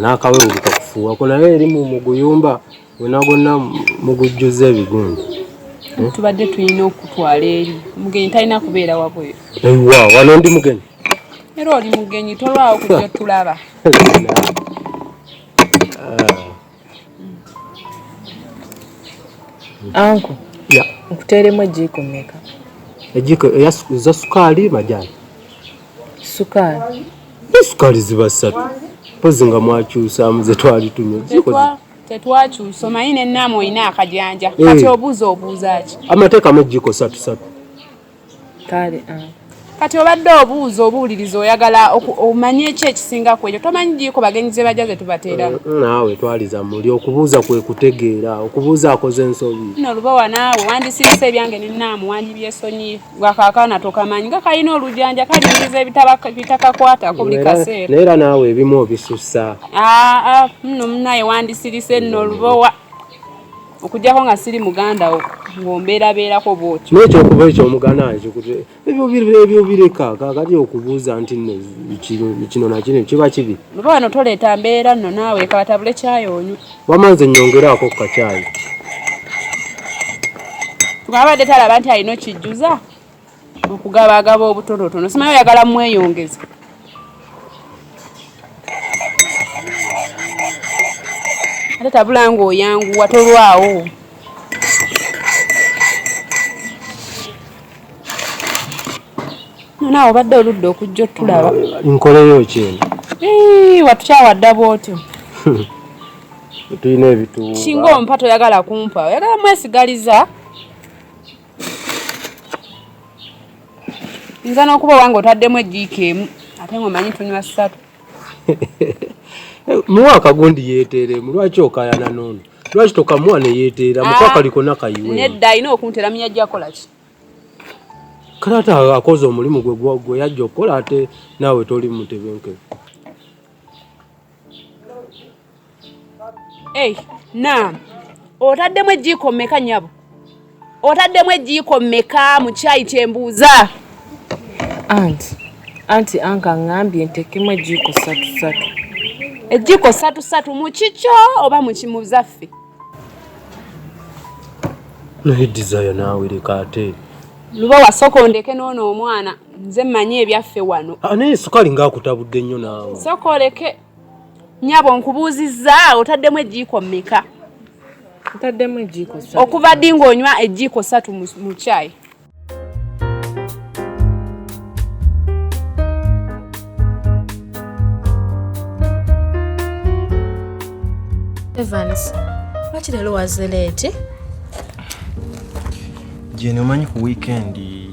n'akawewuluka kufuuwako naye eri mu muguyumba gwena gwonna mugujjuzza ebigundi hmm? tubadde tulina okutwala eri mugenyi talina kubeera wabweru ewa wano ndi mugenyi era oli mugenyi tolwawo kujja tulaba ah. Anko. Ya. Nkuteeremu ejjiiko mmeka? Ejjiiko eya sukaali majaani. Sukaali. Sukaali ziba ssatu. Mpozi nga mwakyusaamu ze twali tunywa. Tetwa tetwakyusa omanyi ne naamu olina akajanja. Eh. Kati obuuza obuuza ki? Amateekamu ejjiiko ssatu ssatu. kale ah. kati obadde obuuza obuwuliriza oyagala omanye ekyo ekisinga ku ekyo tomanyi giiko bagenyi ze bajja ze tubateera mm, mm, naawe twaliza muli okubuuza kwe kutegeera okubuuza akoze ensobi no lubowa naawe wandisirise ebyange nenaamu wandibyesonyi gwakakaana tokamanyi nga kalina olujanja kalingiza ebitakakwatako buli kaseera naye era naawe ebimu obisussa aa ah, muno munaye wandisirise no lubowa okujjako nga siri muganda wo ng'ombeerabeerako bwotyo nekyokuba ekyo omuganda nkikute ebyo bireka kakati okubuuza nti no kino nakino kiba kibi oba wano toleeta mbeera nno naawe kabatabule kyayi onywa wama nze nyongeraako ku kakyayi twabadde talaba nti alina okijjuza okugaba agaba obutonotono simanyi oyagala mweyongeza ate tabula nga oyanguwa tolwawo naawe obadde oludde okujja otulaba nkoleyo kyeno watukyawadda bwotyo tulina ebituuba singa ompa toyagala kumpa oyagala mwesigaliza nza n'okuba owange otaddemu ejiika emu ate ngaomanyi tunywa ssatu muwa akagundi yeeteeremu lwaki okayana noono lwaki tokamuwa neyeeteera mukwakaliko ah, nakayiwe nedda alina okuntera munya jakolaki kale ate akoze omulimu gwe gwe yajja okukola ate naawe toli mutebenkere Hey, naam. Otaddemu ejjiiko mmeka nyabo? Otaddemu ejjiiko mmeka mu kyayi kyembuuza? Anti, anti anka ngambye ntekemu ejjiiko satu satu. Ejjiiko satu satu mu kikyo oba mu kimuzaffe? Naye Desire naawe leka ate. Luba wasooka ondeke n'ono omwana nze mmanyi ebyaffe wano. Anaye ah, sukali ng'akutabudde nnyo naawe. Sooka oleke. Nyabo nkubuuzizza otaddemu ejjiiko mmeka? Ntaddemu ejjiiko ssatu. Okuva ddi ng'onywa ejjiiko ssatu mu caayi? Evans, lwaki leero waze leeti? Jeni, omanyi ku wiikendi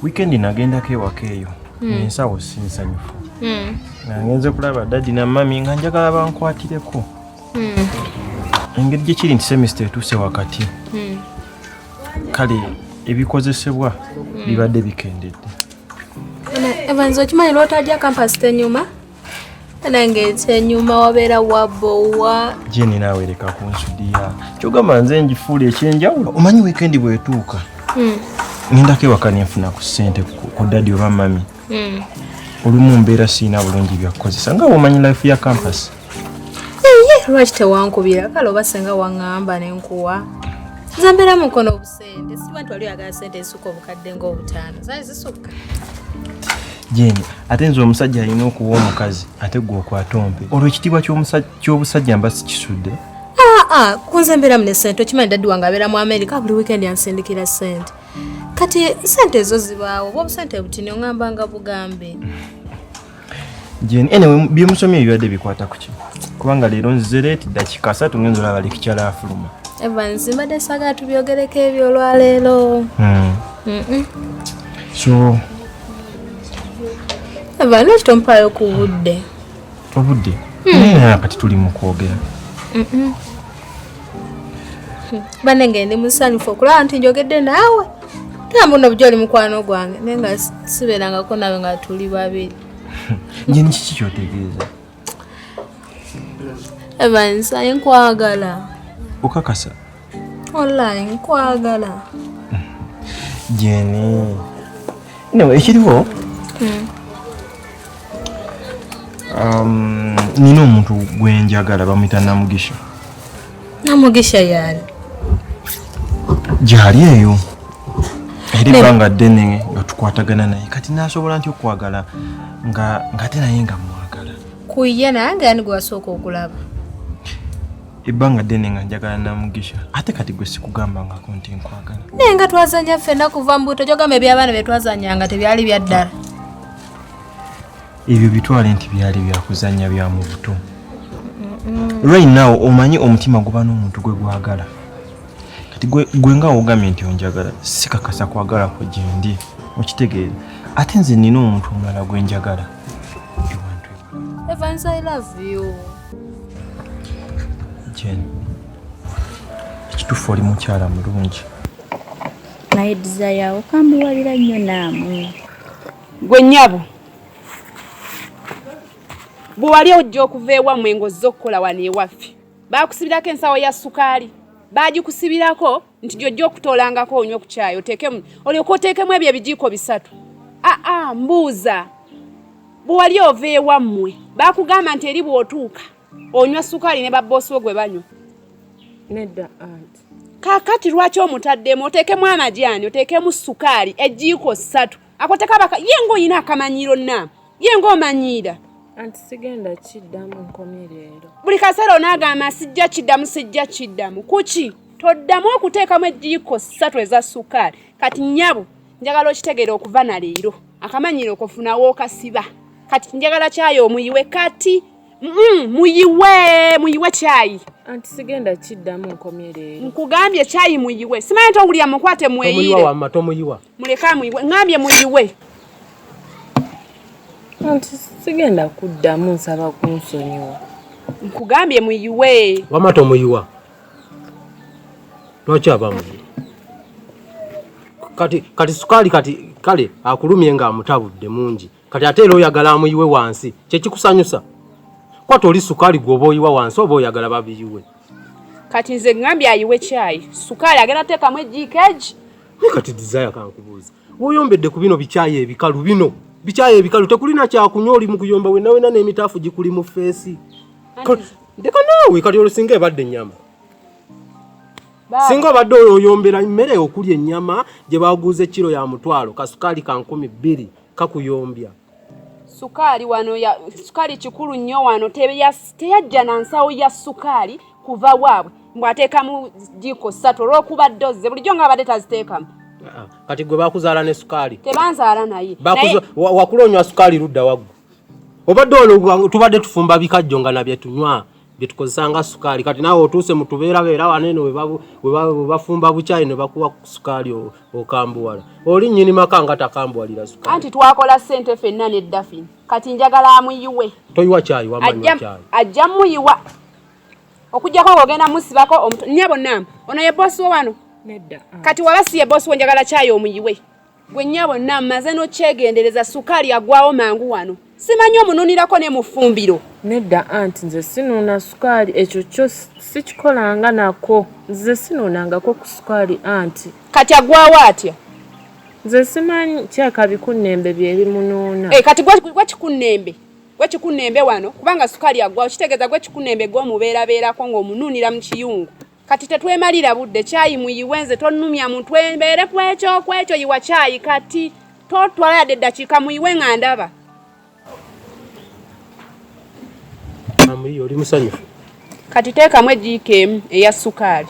wiikendi nagendako ewaka eyo hmm. ensawo si nsanyufu hmm. nangenze kulaba dadi na mami nga njagala bankwatireko hmm. engeri gyekiri nti semista etuuse wakati hmm. kale ebikozesebwa hmm. bibadde bikendedde evanzi okimanyi lwotajja kampasi tenyuma nange kyenyuma wabeera wabowa jeni naawe leka kunsudiya kyogamba nze njifuula ekyenjawulo omanyi wikendi bwetuuka ngendako ewaka nenfuna ku ssente ku dadi oba mami hmm. olumu mbeera sirina bulungi byakukozesa nga womanyi life ya campus lwaki tewankubira kale oba senga waŋŋamba ne nkuwa nze mbeera mu nkono obusente siba nti wali oyagala sente ezisuka obukadde ng'obutaano zaali zisukka jeni ate nze omusajja alina okuwa omukazi ate gwe okwata ompe olwo ekitiibwa ky'obusajja mba sikisudde ah, ah, kunze mbeeramu ne sente okimanyi daddi wange abeera mu amerika buli wiikendi ansindikira sente kati sente ezo zibaawo oba obusente butini oŋamba nga bugambe jeni ene byemusomye ebibadde bikwata kuki kubanga leero nzize leeti dakika asatu ngenza olaba lekikyala afuluma evans mbadde saga tubyogereko ebyo olwaleero hmm. so eva lwaki tompaayo ku budde obudde hmm. naye kati tuli mu kwogera bane nga ndi musanyufu okulaba nti njogedde naawe era mbuno bujo oli mukwano gwange naye nga sibeerangako nawe nga tuli babiri nje nikiki kyotegeeza evans aye nkwagala okakasa olai nkwagala jeni Anyway, ekiriwo hmm. um, nina omuntu gwenjagala bamuyita Namugisha. Namugisha yaani gyali eyo era ebbanga ddene nga tukwatagana naye kati nasobola nti okwagala nga ngate naye nga mwagala kuye nange ani gwasooka okulaba ebbanga ddene nga njagala na mugisha ate kati gwe sikugambangako nti nkwagala naye nga twazanya ffenna kuva mu buto kyogamba ebyabaana bye twazanyanga tebyali bya ddala ebyo bitwale nti byali byakuzanya bya mu buto right now omanyi omutima guba n'omuntu gwe gwagala kati gwe nga wogambye nti onjagala sikakasa kwagala kwe gyendi okitegeera ate nze nina omuntu omulala gwe njagala Evans, I love you. Jane, ekituufu oli mukyala mulungi naye desire okambuwalira nnyo naamu gwe nyabo bwe wali ojja okuva ewammwe ng'ozze okukola wano ewaffe baakusibirako ensawo ya sukaali baagikusibirako nti gyojja okutoolangako onywe ku kyayi oteekemu olyoka oteekemu ebyo ebijiiko bisatu aa ah, ah, mbuuza bwewali ova ewammwe bakugamba nti eri bwotuuka onywa sukaali ne babboosi wo gwe banywa nedda anti kakati lwaki omutaddemu oteekemu amajaani oteekemu sukaali ejiiko ssatu akoteka baka ye ngaolina akamanyiro na ye ng'omanyiira anti sigenda kiddamu nkomye leero buli kaseera onaagamba sijja kiddamu sijja kiddamu kuki toddamu okuteekamu ejjiiko ssatu eza sukaali kati nyabo njagala okitegeera okuva na leero akamanyiiro kofunawo okasiba kati njagala kyayi omuyiwe kati mm, muyiwe muyiwe kyayi anti sigenda kiddamu nkomye leero nkugambye kyayi muyiwe simanyi nti owulira mukwate mweyiire Muleke amuyiwe. Ngambye muyiwe. Anti sigenda kuddamu nsaba kunsonyiwa. Nkugambye muyiwe. Wama tomuyiwa. Lwaki abamu? Kati kati sukali kati kale akulumye nga amutabudde mungi. Kati ate era oyagala amuyiwe wansi. Kye kikusanyusa. Kwata oli sukali gwoba oyiwa wansi oba oyagala babiyiwe. Kati nze ngambye ayiwe kyayi. Sukali agenda teekamu ejiikeji. Naye kati Desire kankubuuza. Woyombedde ku bino bikyaye ebikalu bino. Bikyaye ebikalu tekulina kyakunywa oli mu kuyomba wenna wenna n'emitaafu gikuli mu feesi. Ndeka naawe kati olwo singa ebadde ennyama. Singa obadde oyoyombera emmere okulya ennyama gye baguuza ekkiro ya mutwalo kasukaali ka nkumi bbiri kakuyombya. sukaali wano ya sukaali kikulu nnyo wano teyajja na nsawo ya sukaali kuva waabwe mbwateekamu jiiko ssatu olwokuba dozze bulijjo nga abadde taziteekamu ah, kati gwe bakuzaala ne sukaali tebanzaala naye wakula onywa sukaali ludda waggu obadde olwo tubadde tufumba bikajjo nga nabyetunywa byetukozesa nga sukaali kati naawe otuuse mutubeerabeera waneeno webafumba bukyayi ne bakuwa sukaali okambuwala oli nyini maka nga takambuwalira sukaali anti twakola sente fenna ne dafin kati njagala amuyiwe toyiwa kyayi wamanyakyayi ajja muyiwa okujjako ng'ogenda musibako omutu nyabo namba ono ye bosi wo wano nedda kati waba si ye bosi wo njagala kyayi omuyiwe Gwe nyabo na maze no kyegendereza sukali agwawo mangu wano. Simanyi omununirako ne mufumbiro. Nedda aunt nze sinuuna sukali ekyo kyo sikikolanga nako. Nze sinuunangako ku sukali aunt. Kati agwawo atya? Nze simanyi kyaka bikunnembe bye bimunuuna. Eh kati gwa gwa kikunnembe. Gwa kikunnembe wano kubanga sukali agwawo kitegeeza gwa kikunnembe gwo mubeera beerako ng'omununira mu kiyungu. kati tetwemalira budde kyayi muyiwe nze tonnumya muntu embeere ku ekyo ku ekyo yiwa kyayi kati totwala yadde eddakiika muyiwe nga ndaba oli musanyufu kati teekamu ejiika emu eya sukaali